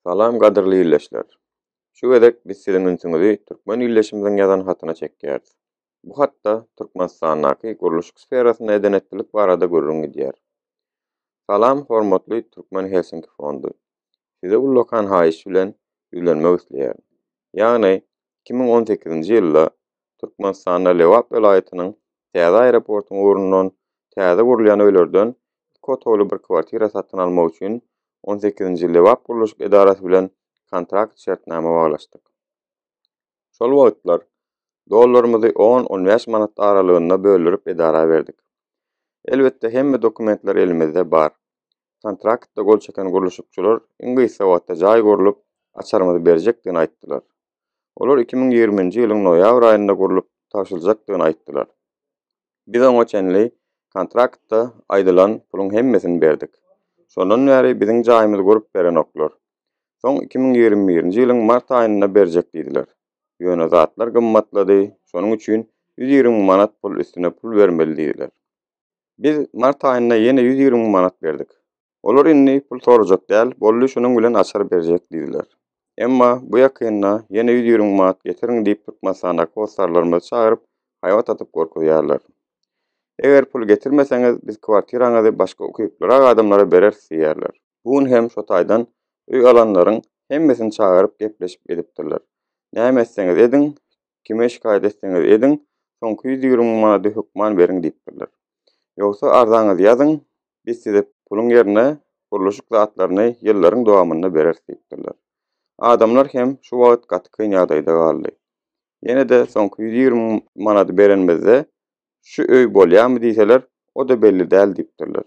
Salam gadyrly illeşler. Şu gezek biz siziň ünsüňizi türkmen illeşimiziň ýazan hatyna çekýäris. Bu hatda Türkmenistandaky gurluşyk sferasynda eden etdilik barada gürrüň gidýär. Salam hormatly Türkmen Helsinki fondy. Size ullakan haýyş bilen ýüzlenmek isleýärin. Ýagny, iki müň on sekizinji ýylda Türkmenistanda Lebap welaýatynyň täze aeroportyň ugrundan täze gurulýan öýlerden iki otagly bir kwartira satyn almak üçin on sekizinji Lebap gurluşyk edarasy bilen kontrakt şertnama baglaşdyk. Şol wagtlar dollarymyzy on-on bäş manat aralygynda böldürip edara berdik. Elbetde hemme dokumentler elimizde bar. Kontraktda gol çeken gurluşykçylar iň gysga wagtda jaý gurlup, açarymyzy berjekdigini aýtdylar. Olar iki müň ýigriminji ýylyň noýabr aýynda gurlup tabşyryljakdygyny aýtdylar. Biz oňa çenli kontraktda aýdylan puluň hemmesini berdik. Şondan bäri biziň jaýymyzy gurup berenoklar. Soň iki müň ýigrimi birinji ýylyň mart aýynda berjek diýdiler. Ýöne zatlar gymmatlady, şonuň üçin ýüz ýigrimi müň manat pul üstüne pul bermeli diýdiler. Biz mart aýynda ýene ýüz ýigrimi müň manat berdik. Olar indi pul sorajak däl, boldy şunuň bilen açar berjek diýdiler. Emma bu ýakynda ýene ýüz ýigrimi müň manat getiriň diýip Türkmenistandaky hossarlarymyzy çagyryp haýbat atyp gorkuzýarlar. Eger pul getirmeseňiz biz kwartiraňyzy başga ukyplyrak adamlara bereris diýýärler. Bu gün hem şo taýdan öý alanlaryň hemmesini çagyryp gepleşip edipdirler. Näme etseňiz ediň, kime şikaýat etseňiz ediň, soňky ýüz ýigrimi manady hökman beriň diýipdirler. Ýogsa arzaňyzy ýazyň, biz size puluň ýerine gurluşyk zatlaryny ýyllaryň dowamynda bereris diýipdirler. Adamlar hem şu wagt gaty kyn ýagdaýda galdy. Ýene-de soňky ýüz ýigrimi manady berenimizde şu öý bolýarmy diýseler, o-da belli däl diýipdirler.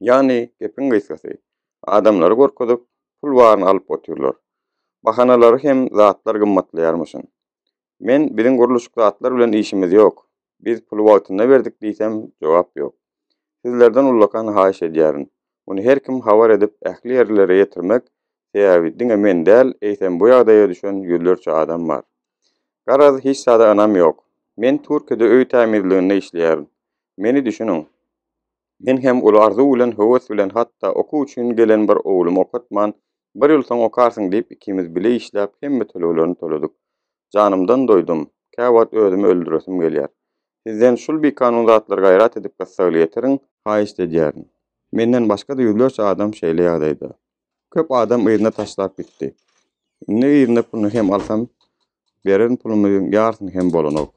Ýagny, gepiň gysgasy, adamlary gorkuzyp, pul baryny alyp otyrlar. Bahanalary hem zatlar gymmatlaýarmyşyn. Men biziň gurluşyk zatlar bilen işimiz ýok, biz puly wagtynda berdik diýsem, jogap ýok. Sizlerden ullakan haýyş edýärin, muny her kim habar edip ähli ýerlilere ýetirmek, sebäbi diňe men däl, eýsem bu ýagdaýa düşen ýüzlerçe adam bar. Garaz, hiç zada ynam ýok. Men Türkiýede öý tämizliginde işleýärin. Meni düşüniň. Men hem uly arzuw bilen, höwes bilen, hatda okuw üçin gelen bir oglumy okatman, Bir ýyl soň okarsyň diýip, ikimiz bile işläp, hemme töleglerini töledik. Janymdan doýdum. Käwagt özümi öldüresim gelýär. Sizden şul bikanun zatlary gaýrat edip gyssagly ýetiriň. Haýyşt edýärin. Menden başga-da ýüzlerçe adam şeýle ýagdaýda. Köp adam yzyna taşlap gitdi. Indi yzyna puluny hem alsam, beren pulumyň ýarsyny hem bolanok.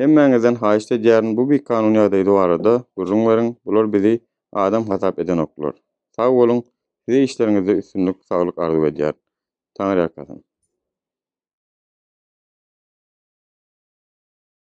Hemmäňizden haýyşt edýärin, bu bikanun ýagdaýda barada gürrüň beriň, bular bizi adam hasap edenoklar. Sag boluň, size işleriňizde üstünlik, saglyk arzuw edýärin. Taňyrýalkasyn.